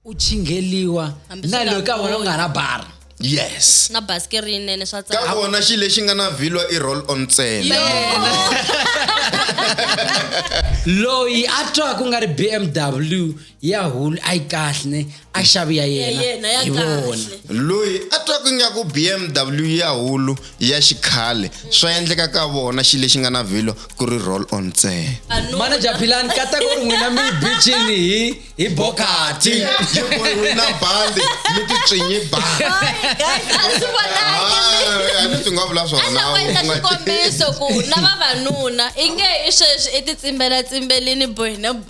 u chingheliwa Hambi na swi nga loko ka vona u nga na bara yes na basike rinene swa ka tsaka vona xi lexi nga na vhilwa i roll on ntsena loyi a twaka ku nga ri bmw ya hulu a yi kahle ne a xavi ya yena hi vona loyi a twaka ingaku bmw ya hulu ya xikhale swa endleka ka vona xi lexi nga na vhilo ku ri roll on ntsena manaja philani kata ku ri n'wina mi bicini hi hi bokati na bandi mi titswinyi bandi swi nga vula swonaikombiso ku na vavanuna i nge i sweswi i titsimbelatsimberini bohina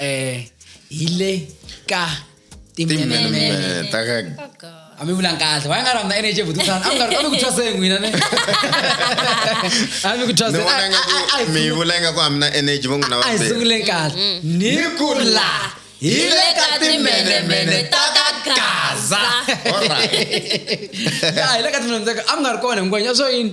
eh hile ka timenemene ta ka a mi vulang kahle wa nga rhandza energy vuti sana a mi nga a mi ku thwaseni n'wina ne a mi ku thwaseni a nga ku mi vula nga ku a mi na energy va n'wina va a hi sunguleni kahle mm, mm. ni ku la hi le ka timenemene ta ka gaza hi le ka timenemene ta ka a mi nga ri kona hinkwanya swo yini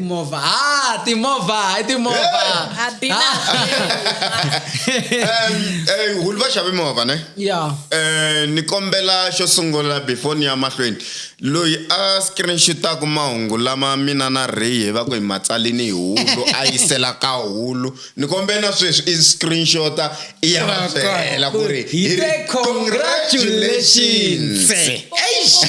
Timovha. Ah, timovha, i timovha. A bina. Ah. Em, eh, hulu va xave movha ne Yeah. Eh, ni kombela xo sungula before ni ya mahlweni loyi a screenshotaka mahungu lama mina na ray hi va ku hi matsalini hi hulu a yisela ka hulu Ni kombela sweswi i screenshota i ya va byela ku ri Hi te congratulations. Eish!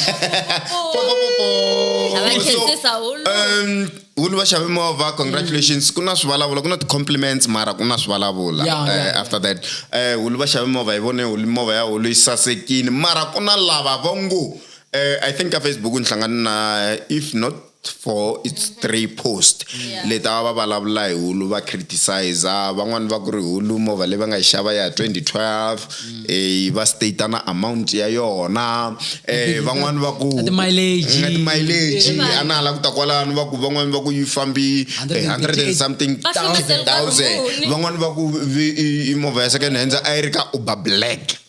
A va khetisa hulu. Um, hulu va xave movha congratulations ku na swivulavula ku na ti-compliments mara ku na swivulavula Yeah, yeah, Eh, yeah. after that eh, hulu va xave movha hi vone hulu movha ya hulu yi sasekini mara ku na lava va ngo eh, i think ka facebook ni hlangane na if not for its three post yeah. leti a va vulavula hi hulu va criticiza van'wani va ku ri hulu movha leyi va nga yi xava ya 2012 mm. eh, va stata na amount ya yona eh, van'wani va ku timaileji a na hala ku ta kwalano va ku van'wani va ku yi fambi 100 eh, and something thousand van'wani va ku movha ya second hands a yi ri ka uber black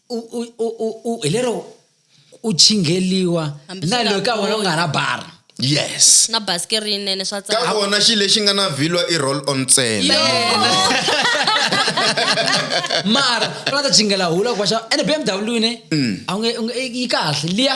u, u, u, u, u, hi lero u chingheliwa Hambi na swi nga loko ka wena u nga na bara yes na basikeri yinene swa ka tsaka vona xi lexi nga na vhilwa i roll on ntsena mara u nga ta chinghela hula kwaxa ene bmw ne a wu nge- u nge- yi kahle liya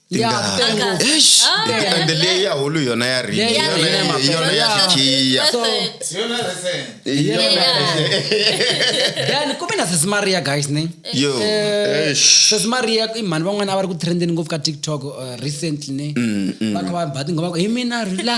Tingana. Tengo. Eish, and leya ya hulu yona ya ring Yeah, yona yeah, ya- yeah. yona ya Yeah. fikiya So, Yona recent. then kumbe na sesi maria guys ne yo eish. sesi maria i mhani van'wana a va ri ku trendeni ngopfu ka tiktok uh, recently ne va kha va ba tinghoma ku hi mina rila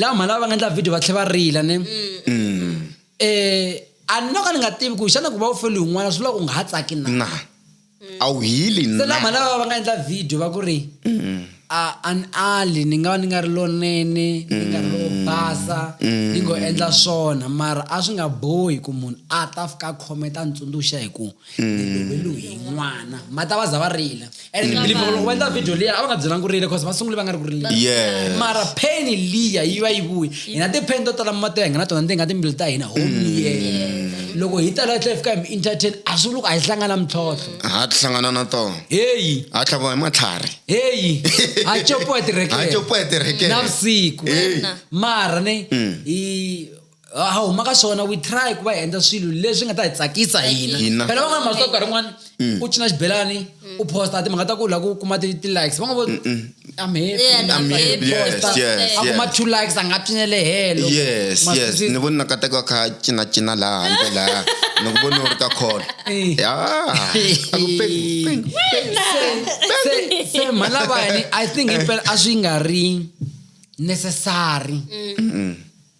lava mhani lava va nga endla video va tlhela va rila ne um a ni no ka ni nga tivi ku xana ku va u feliwe n'wana swi vula ku nga ha tsaki na na a wu hili se lava mhani na lava va nga endla video va ku ri a a ni ali ni nga va ni nga ri lonene ni nga ri lo basa ni ngo endla swona mara a swi nga bohi ku munhu a ta fika a khometa a ni tsundzuxa hi ku loyi n'wana ma ta va za va rila and ni believe loko va endla video liya a va nga byelangi ku rila because va sungule va nga ri ku rileni yes mara pheni liya yi va yi vuyi hina tipheni to tala mati ya hina na tona ti nga timbilu ta hina home liye loko hi tala tlhe fika hi mi entertain a swi loko a hi hlangana mintlhontlho ha ti hlangana na tona heyi ha tlhaviwa hi matlhari heyi ha copiwa ha tirekere copiwa hi tirekere navusiku Hey. mara ne hi a ha huma ka swona we try ku va hi endla swilo leswi nga ta hi tsakisa hina Hina. phela va nga masiku nkarhi rin'wana u cina xibelani u posta timhaka ta ku la ku kuma ti- ti-likes va nga vo I'm happy, Yeah, I'm I'm happy, happy. yes, Posta. yes, a kuma yes. two likes a nga cinele helo yes Must yes be- ni voni nakateka kha cinacina laha handle laha ni ku voni u ri ka call Eh. ya a ku peng, peng. se se mhana vani i think impela a swi nga ri necessary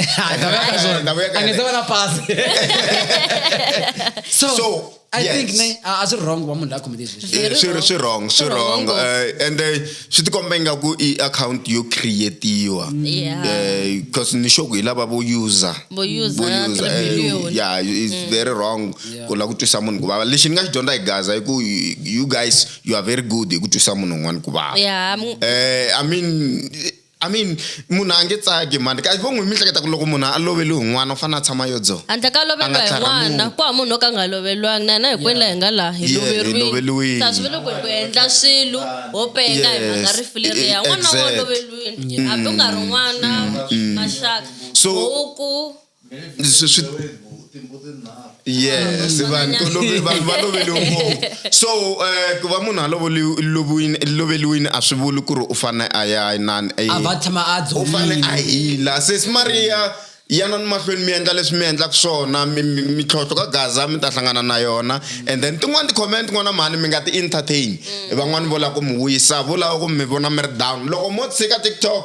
Ah, Esta voy a caer, esta voy a caer. And esta buena pass. so, So, I yes. think ne, I was wrong wa munhu la khome this. Eh, swi ri swi wrong swi wrong eh, and eh, swi tikomba ingaku i account yo creatiwa Yeah. Eh, because ni sure ku hi lava vo user Vo user, Vo user, three eh, billion. yeah it's Mm. very wrong ku la ku twisa munhu ku vava lexi ni nga xi dyondza hi gaza i ku you- you guys you are very good hi ku twisa munhu un'wana ku vava Yeah, mu- Eh, I mean, I mean munhu a nge tsaki mhani ka vo n'wi mi hleketa ku loko munhu a loveli hi n'wana u fanele a tshama yo dzoha handle ka lovela hi n'wana ku hava munhu o ka nga loveliwangi na hina hinkwenu laha hi nga laha hi loveriwile ta swi vele ku hi ku endla swilo ho penga hi mhaka rifu leriya n'wana wa loveliwile hambi u nga ri n'wana mm. maxaka huku swi swi yes vanhu to love vanhu va loveliwe ngopfu so eh, ku va munhu a loveli- loviwini- loveliwini a swi vuli ku ri u fanele a ya inani a va tshama a u fanele a dzolile hila sesi mariya yana ni mahlweni mi endla leswi mi endlaka swona mi- mi- mintlhontlho ka gaza mi ta hlangana na yona and then tin'wani ti-comment n'wana mhani mi nga ti-entertain van'wani vo lava ku mi wisa vo lava ku mi vona mi ri down loko mo tshika tiktok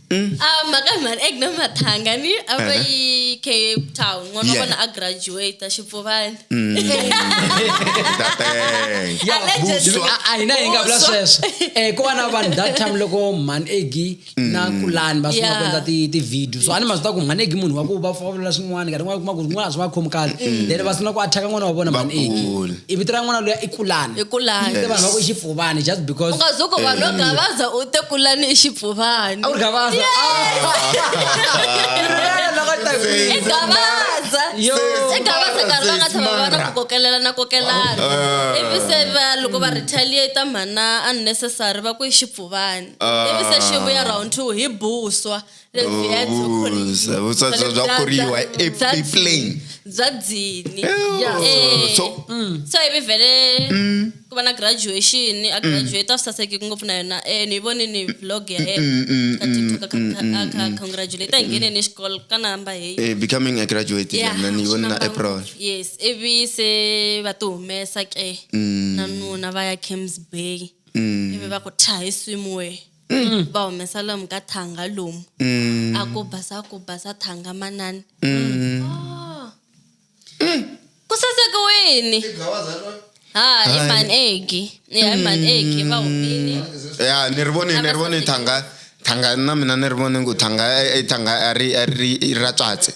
mm. ah, makamhani egna mathangani a va eh. yi cape town n'wana wa vona a graduata xipfuvani mm. a hina hi nga vula sweswo um ku va na vanhu that time loko mhani egi na mm. kulani va sungula ku endla ti-video so a ni mazi ta ku mhani egi munhu wa ku va vulavula swin'wana nkarhi n'wana kuma ku rin'wana a swi va khomi kahle then va sungula ku athaka n'wana wa vona mhani egi i vito ra n'wana loya i kulani i kulani vanhu va ku i xipfuvani just because ungazuko vanhu va gavaza u te kulani i xipfuvani a wu ri gavaza igavaza karhi va nga tshama va na ku kokelela na kokelana ah. ivi se va loko va retaliata mhana unnecessary va ku i xipfuvani ah. ivi se xivuya round two hi buswa leswi ya byo Oh, khorisa. vutswatsi Bya- bya bya- khoriwa bya- e- bya- eplain bya dzini Yeah. Eh, So- so ivi vhele ku va na graduation a graduate a swi saseki ngopfu na yona eh ni yi vonini vlog ya yena ka tiktok a kha- a kha- a kha- congratulate a ngheneni xikolo ka namba heyi Eh, becoming a graduate Yeah, yona ni vona na swi april namba ngopfu. yes ivi se va ti humesa ke na nuna va ya cams bay ivi va ku tha hi swimwe mm. va humesa lomu ka thanga lomu mm. a ku basa ku basa thanga manani mm. oh. mm. ku saseke wini ha i manegi ya i manegi va humile ya ni ri voni ni ri voni thanga thanga na mina ni ri voni ku thanga i thanga a ri a ri ra tswatse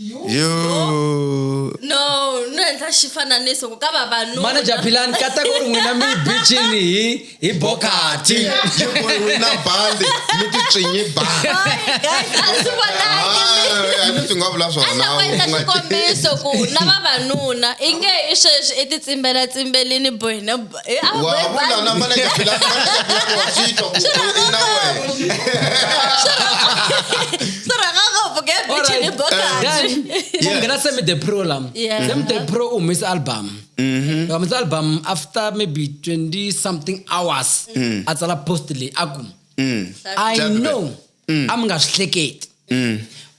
yo no no endla xifananiso ku ka vavanuna manager philani kata ku ri n'wina mi bicini hi hi bokati na bandi mi titswinyi bandi swi nga vula swonaendla xikombiso ku na vavanuna i nge i sweswi i titsimbelatsimberini bohina Eh, ah, Wa- bye, bye. abulana manager phela- manager phela wafitwa ku- Shut up, in a way. Shut up. Sorry, I can't go forget All bitch right. in the book. Then, kungena semi the pro lam Yeah. semi the pro umisa album umisa album after maybe 20 something hours a tsala post leyi a ku i Jack know a mi nga swi hleketi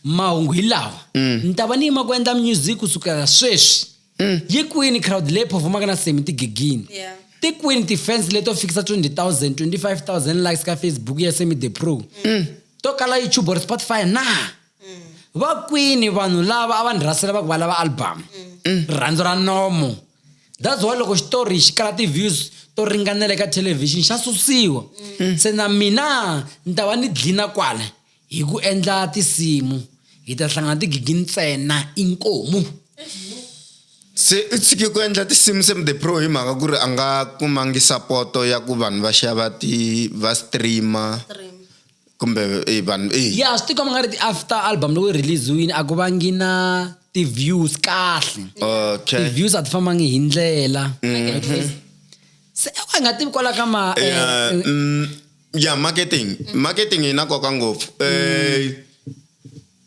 mahungu hi lawa ni ta va ni yima ku endla music kusukela sweswi mm. yi kwini crowd leyi performaka na semi tigigini yeah. ti kwini ti-fans leto fikisa 20 000 25 000 likes ka facebook ya semi the pro mm. to kala youtube or spotify na mm. va kwini vanhu lava a va ni rhasela va ku va lava album mm. rirhandzu ra nomo that's why loko xitori xi kala ti-views to ringanela eka thelevhixini xa susiwa mm. se na mina ni ta va ni dlina kwala Hi ku endla tinsimu hi ta hlangana tigigi ntsena inkomu. Se u tshike ku endla tinsimu se the pro hi mhaka ku ri a nga kumangi sapoto ya ku vanhu va xava ti va streama kumbe eh, vanhu eh. ya swi tikomba nga ri ti-after album loko yi release-wini a ku vangi na ti-views kahle okay ti-views a ti fambangi hi ndlela se a nga tivi kwala ka ma eh, Yeah, eh, mm, ya marketing mm. marketing yi na nkoka ngopfu um eh,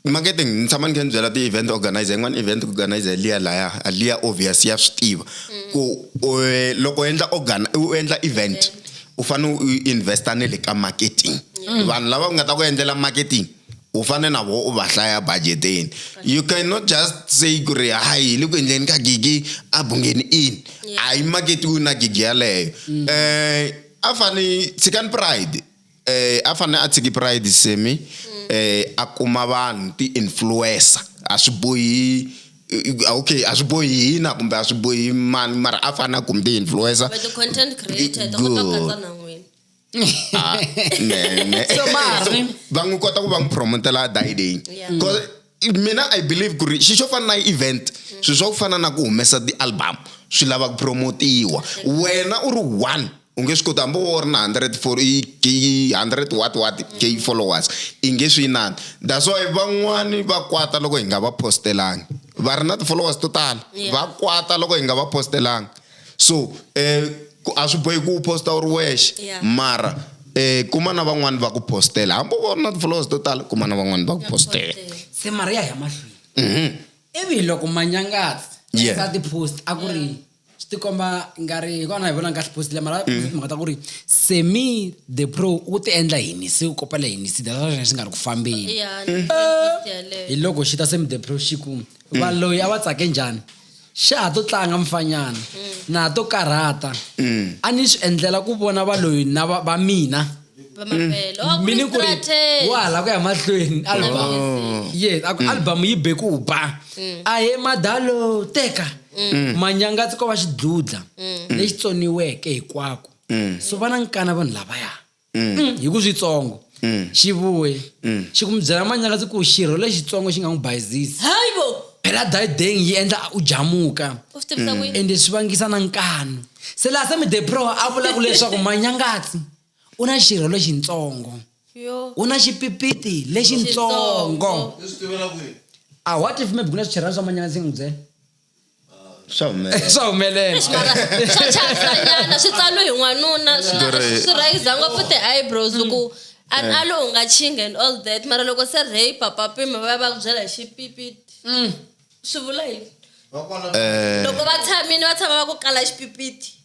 marketing ni tshama ni kha ni byela ti-event organizer yin'wana event organizer liya laya liya obvious ya swi tiva mm. ku eh, loko u endla organ u endla event u fanele u investa ne le ka marketing mm. vanhu lava nga ta ku endlela marketing u fane na vo u va hlaya budgeteni you cannot just say ku ri hayi le ku endleni ka gigi a bungeni in a yi maketiwi na gigi yaleyo um a fane tshikani pride eh a fane a tshiki pride semi eh a kuma vanhu ti influencer a swi bohi eh, okay a swi bohi hina kumbe a swi bohi mani mara a fane a kumi ti influencer But the content creator, ta kota ku katsa na n'wina. Ah, ne- ne- So, Mari. va n'wi kota ku va n'wi promotela dayideni Yeah. mina i believe ku ri xi xo fana na event swilo swa ku fana na ku humesa ti-album swi lava ku promotiwa wena u ri one u nge swi koti hambi wo ri na hundred for hundred what what k followers i nge swi inani that's why van'wani va kwata loko hi nga va post-elangi va ri na ti-followers to tala va kwata loko hi nga va post-elangi. so um a swi bohi ku u posta u ri wexe mara um kuma na van'wani va ku postela hambi u va ri na ti-followers to tala kuma na van'wani va ku postela se mara ya hi mahlweni mhm. ivi loko manyangatsi Yes. eka ti-post a ku ri swi tikomba nga ri hi kona hi vona kahle post le mara mm. mhaka ta ku ri semi the pro u ti endla yini se u kopela yini si data xana xi nga ri ku fambeni hi loko xi ta semi the pro xi ku mm. va loyi a va tsake njhani xa ha to tlanga mfanyana na ha to karhata a ni swi endlela ku vona valoyi na va va mina vamavhelo a ku mi ni ri ku ri strategy wa ha la ku ya mahlweni album yes a ku album yi be ku ba a he madalo teka manyanga a ti ko va xidludla lexi tsoniweke hikwako so va na nkana vanhu lavaya mm. mm, hi ku switsongo mm. xi vuye mm. xi ku mi byela manyakatsi ku xirho lexitsongo xi nga n'wi bayizisi phela dayideng yi endla u jamuka mm. ende swi vangisa na nkanu se laha se midepro a vulaku leswaku manyangatsi u na xirho lexitsongo u na xipipiti lexitsongo a what if maybe ku na swichirhana swa manyangatsi yi n'wi byela swa humelela swa humelela swa chasanyana swi tsalo hi n'wanuna swi rhayisa ngopfu ti-eyebrows ku and mm. alo u nga chinga and all that mara loko se rey papapima va ya va ku byela hi xipipiti mm. swi vula yini eh. loko va tshamile va tshama va ku kala xipipiti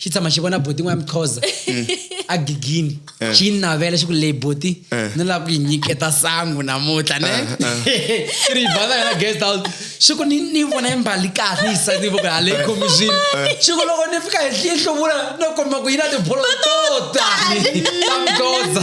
xi tshama xi vona boti n'wana mixhoza a gigini eh. xi yi navela xi ku leyi boti eh. ni lava ku yi nyiketa sangu namuntlha ne eh, i ri basa yona guest house xi ku ni ni vona yi mbali kahle yi sa ni voko ha leyi khomixini xi ku loko ni fika hi yi hluvula no komba ku yi na tibolo to tani ta mixhoza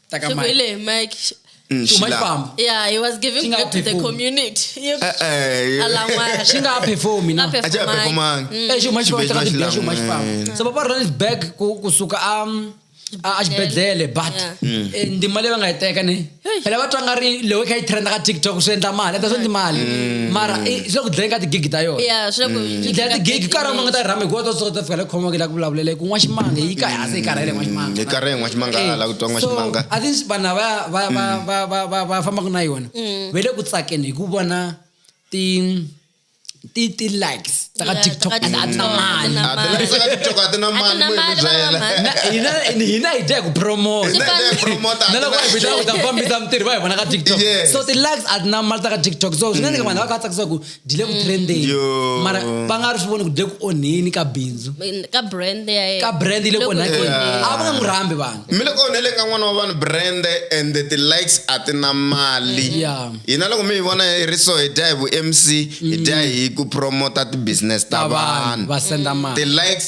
Taka Shiko mic. ile mic. Sh- Mm, Too much Sheila. bump. Yeah, he was giving Chinga back to the perfume. community. You- Eh, eh, Alangwana. Shingaperformi na. Ngape- acha apepo mangi. Eh, xo manje Xibedhlele va teka xo manje xilangwe. famba. So papa run it back ku kusuka um a a xibedhlele but Yeah. eh, ndima leyi va nga yi teka ni phela va twa nga ri lewe kha yi trenda ka tiktok swi endla mali ata swi endli mali mara eh, swi le ku dlayeni ka tigigi ta yona Yeah, swi le ku- yi dlaya tigigi ka rama nga ta yi rhama hikuva ta swi kota fika le khomaka la ku vulavulele kun'wa ximanga yi ka se e karele ngwa ximanga e karele ngwa ximanga eh, la ku twa ngwa ximanga i think vanhu va va va mm. va va va va fambaka na yona mm. ve le ku tsakeni hi ku vona ti ti ti likes ta ka tiktok a ti na mali a ti likes ka tiktok a ti na mali mo hi byela hina hina hi dya hi ku promote hina hi dya hi promote na loko hi bita ku ta fambisa mitirhi va hi vona ka tiktok so ti likes a ti na mali ta ka tiktok so swi nga ndzi ka vanhu va ka tsakisa ku byi le ku trendeni Yo. mara va nga ri swi voni ku byi le ku onheni ka bindzu ka brand ya yena ka brand yi le ku onhakeni Yeah. a va nga n'wi rhambi vanhu mi le ku onhele ka n'wana wa vanhu brand and the likes a ti na mali Yeah. hina loko mi hi vona hi ri so hi dya hi vu-mc hi dya hi ku promota ti-business ta ta vanhu vanhu va senda mali ti-likes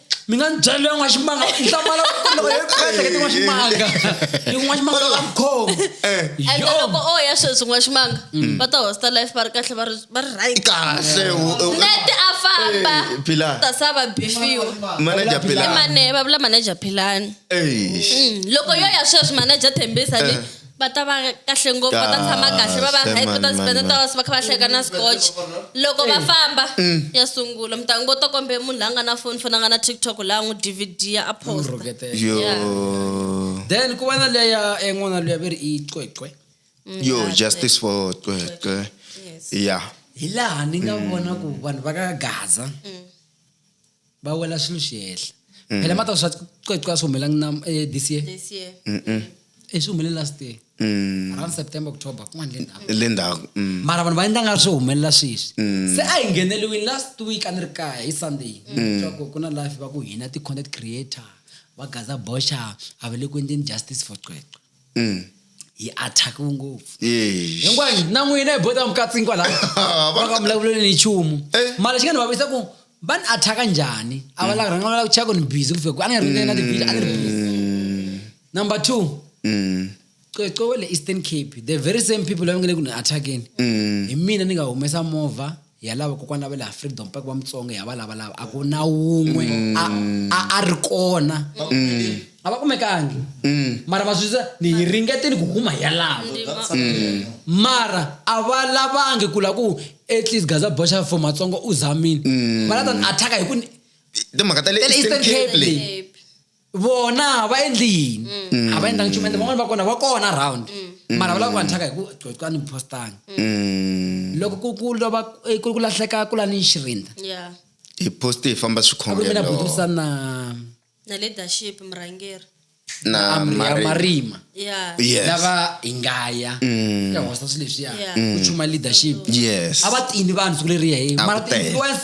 mi nga ni byela loyi n'wa ximanga hlamala loko yo kahleke tin'wa ximanga tin'wa ximanga la khoma eh. and loko o ya sweswi n'wa ximanga mm. va ta hosta life va ri kahle va ri va ri right kahle nete a famba eh, ta sa va bifiwa manager philani mane va vula manager philani mm. loko yo ya sweswi manager thembisa ni eh. va ta va kahle ngopfu va ta tshama kahle va va right va ta spenda ta va kha va hleka na scotch loko va famba mm. ya sungula mi ta ngo to kombe munhu la nga na foni foni a nga na tiktok la n'wi dvd a posta then ku va na leya en'wana eh, luya ve ri i cwecwe mm, yo justice for cwecwe ya hi laha ni nga mm. vona ku vanhu va ka gaza va wela swilo swi hehla mm. phela mata swa cweca swi humelangi na eh, this year e swi humelele last year mm. around september october kun'wana le ndhaku le ndhaku mm. mara vanhu va endla nga swi humelela sweswi mm. se a hi ngheneliwini last week a ni ri kaya hi sunday mm. swaku ku na life va ku hina ti-content creator va gaza boxa a va le ku endleni justice for cweca mm. hi attakiwe ngopfu hinkwani na n'wina hi bota mukatsini kwalava va nga vulavuleli ni nchumu eh. mara xi nga ni vavisa ku va ni athaka njhani a va mm. rhanga va lava ku cheka ku ni busy ku fika ku a ni nga ri na tibizi a ni ri busy mm. number two mm. cwecwe wa le eastern cape the very same people lava nga le ku ni athakeni hi mina ni nga humesa movha ya lava kokwana va le freedom park va mutsonga ya va lava lava a ku na wun'we a a a ri kona a va kumekangi mara va swisa ni hi ringeteni ku huma ya lava mara a va lavangi ku la ku at least gaza boxa for matsonga u zamile va la ta ni attack hi ku ni timhaka ta le Eastern Cape leti. Cape. vona va endli yini a va endlangi nchumu ende van'wani va kona va kona round mara va lava ku va nthaka hi ku coca ni postanga Mm. loko ku ku lova eh, ku ku lahleka ku la ni xirinda ya hi poste hi famba a ku ri mina swikhongelo budusa na na leadership murhangeri na Amri- ya Mari- marima ya yes lava hi ngaya ya hosta swilo leswiya Yeah. ku chuma leadership yes a va tini vanhu siku leriya he A mara ku tele. ti-influence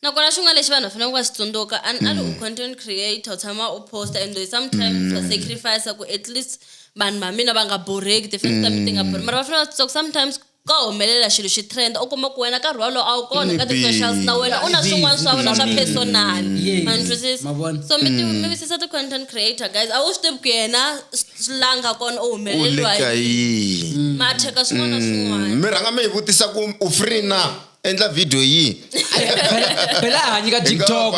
Nakona xin'wana lexi vanhu va faneleke va xi tsundzuka a ni a ni u content creator u tshama u posta and though sometimes wa sacrifice ku at least vanhu va mina va nga borheki tifans ta mina ti nga borhi mara va fanele va tsundzuka ku sometimes ka humelela xilo xi trend u kuma ku wena nkarhi wolowo a wu kona ka ti-socials na wena u na swin'wana swa wena swa personal Yes. ma ni twisisa Ma vona? so mi ti- mi wisisa ti-content creator guys a wu swi tivi ku yena s- s- la nga kona u u le humeleliwa ka yi yini mathyeka swin'wana na swin'wana mi rhanga mi yi vutisa ku u free na endla video yihi phela a hanyika tiktok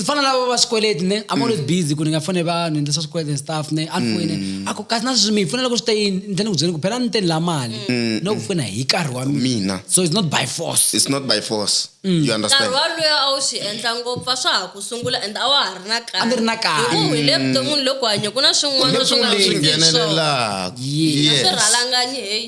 fana lavo va swikweleti ne i'm always mm. busy ku ni nga fone vanhu endla swa swikweleti and stuff ne a ni foyine mm. a ku kasi na sweswi mi pfuna loko swi te yini ni tlhela ni ku byela ku phela ni teni la mali mm. no ku pfuna hi nkarhi wa mina so it's not by force it's not by force you understand nkarhi waloyo a wu swi endla ngopfu a swa ha ku sungula and a wa ha ri na kaya a ni ri na kaya hikuva hi le vuton'wini loko hanya ku na swin'wana swi nga swi nghenelelaka swi rhalanganyi heyi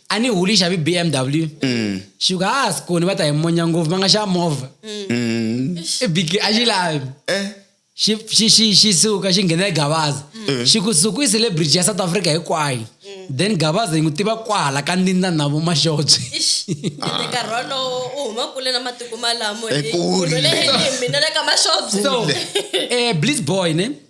a ni huli xavi bmw mm. xi ku ha sikoni va ta hi monya ngopfu va nga xa movha mm. i big a xi lavi eh. xi xi xi xi suka xi nghena egavaza eh. xi ku suku i celebrity ya south africa hinkwayo mm. then gavaza yi n'wi tiva kwahala ka ndindza na vo maxotswi so eh, bliss boy ne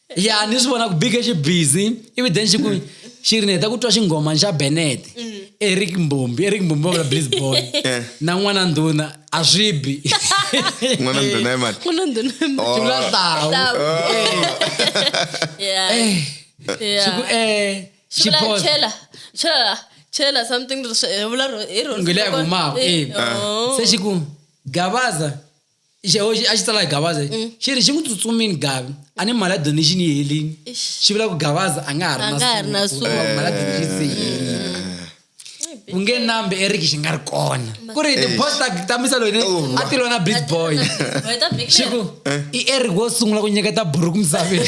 ya ni swi vona ku big xi busy ivi then xi ku xi ri ni heta ku twa xinghoma xa benet mm. eric mbombi eric mbombi wa vula bliz boy eh. na n'wana ndhuna a swi bi n'wana ndhuna i mani n'wana ndhuna i mani xi vula tlawu xi ku eh xi post chela chela something hi vula hi rona ngile ya humaka eh. eh. se xi ku gabaza xeho xi- a xi tsala hi gavaza Mm. xi ri xi n'wi tsutsumini gavi a ni mali ya donation yi helini xi vula ku gavaza a nga ha ri A nga ha ri na na suku. suku. Hikuva mali ya donation se yi helini ku nge nambe eriki xi nga ri kona ku ri tipost ta misa loyi a ti lona big boy Wena big man. xiku i eric wo sungula ku nyiketa buruku misaveni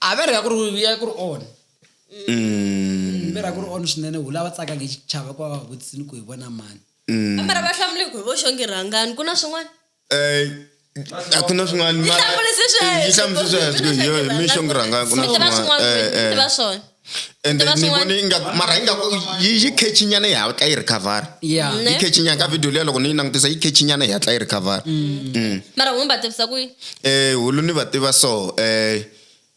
a va ri ya ku ri ya ku ri on Mm. va ri ya ku ri on swinene wu lava tsakanga hi xichava ku va va vutisini ku hi vona mani mara va hlamule ku hi vo xongi rhangani ku na swin'wana Eh, a ku na swin'wana Yi hlamurise sweswo. yi hlamurise sweswo Ku na hi yoho swin'wana. mi xongi rhangani ku na Swi tiva swin'wana swin'wana, Eh, eh. swi tiva swona. ende Tiva ni swin'wana- vone ingaku mara ingaku yi yi khechinyana yi hatla yi recover ya Ne? yi khechinyana ka video liya loko ni yi langutisa yi khechinyana yi hatla yi recover Mm. mara hunu va tivisa ku yi- eh hulu ni va tiva so eh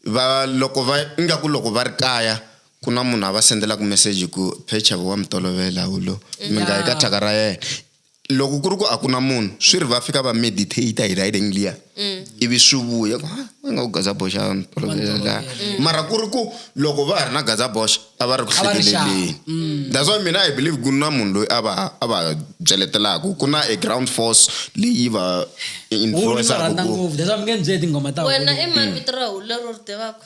va loko va ingaku loko va ri kaya ku na munhu a va sendelaku message ku phecha wa mi tolovela hulu mi nga yi ka thyaka ra yena loko ku ri ku a ku na munhu swi ri va fika va meditate hi riding liya mm. ivi swi vuya ku va nga ku gazaboxa la mm. mara ku ri ku loko va ha ri na gazaboxa a va ri ku hlekeleleni mm. that's why mina i believe ku na munhu loyi a va a va byeletelaka ku na a ground force leyi va influenceaku wena i mavito ra hulero ri tivaka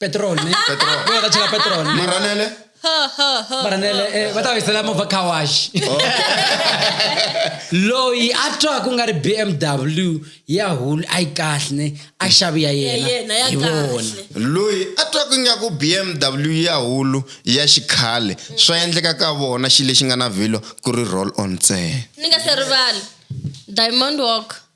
petrol ne Petrol. Bo ka tshela petrol ne maranele maranele eh, va ta va yisela movha car wash loyi a twa ku nga ri bmw ya hulu a yi kahle ne a xavi ya Ya yena yena, ya hi vona kahle. loyi a twaka ingaku bmw ya hulu ya xikhale swa endleka ka vona xi lexi nga na vhilo ku ri roll on ntsena ni nga se rivala diamond walk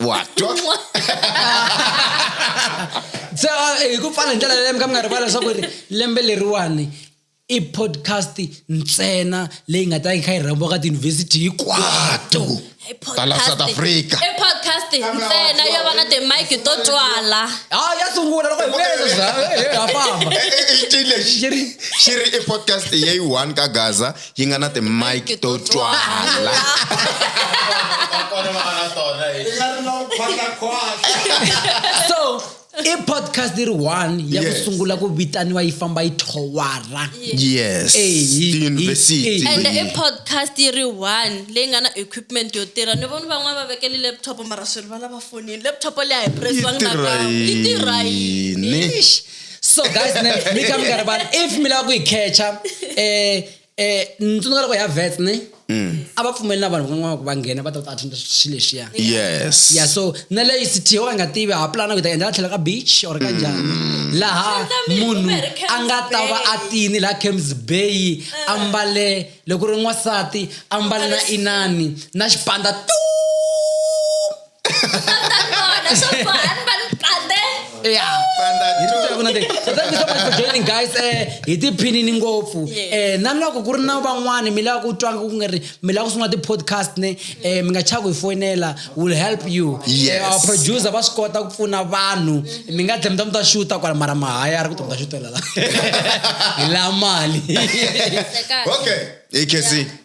wa twa se ah, hi ku pfala hi ndlela yaleyo mi ka mi nga rivala leswaku ri lembe leriwani i podcast ntsena leyi nga ta yi kha yi rhambiwa ka tiyunivhesiti hinkwato tala south africa i podcast ntsena yo va na timike to twala a ah, ya sungula loko hi vuyeleswa ha famba xi ri i podcast yeyi one ka gaza yi nga na timike to twala so i podcast yi ri one ya ku sungula ku vitaniwa yi famba yi thowara yes tiyunivhesiti and i podcast yi ri one leyi nga na equipment yo tirha ni vona van'wana va vekele laptop mara swi ri va lava fonini laptop leyi a hi presiwanga nakambe yi tirha yini so guys ne mi kha mi nga ri vana if mi lava ku yi catcha um eh, eh, ni tsundzuka loko hi ya vets ne Mm. a va pfumeli na vanhu van'wana ku va nghena va ta ta attenda swilo leswiya yes ya so na leyi city yo ka nga tivi ha pulana ku ta endla tlhela ka beach or ka njhani mm. laha munhu a nga ta va a tini laha camps bay eh. a mbale loko ri n'wansati a mbale na inani na xipanda tu joining guys eh hi tiphinini ngopfu eh na loko ku ri na van'wani mi lava ku twanga ku nga ri mi lava ku sungula ti-podcast ne eh mi nga chaki hi foyinela will help you yes. Eh, our producer va swi kota ku pfuna vanhu mi nga tlhe mi ta mi ta xuta kwala mara mahaya a ri ku ta mi ta xutela la hi la mali okay ekc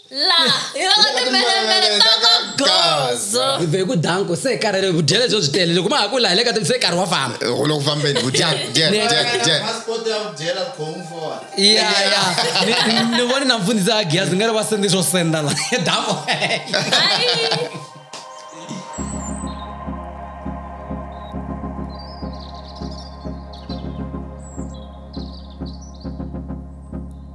la hi va ka timbelemele ta ka gozo hi vhe ku danko se hi karhele hi vudyele byo byi tele loko ma ha ku laha le ka se hi karhi wa famba u le ku fambeni ku dya dya Ne- dya dya passport ya ku dyela khongu for ya ya Ni- ni- ni vone na mfundhisi a giyazi nga ri va sendi swo senda la danko Ai.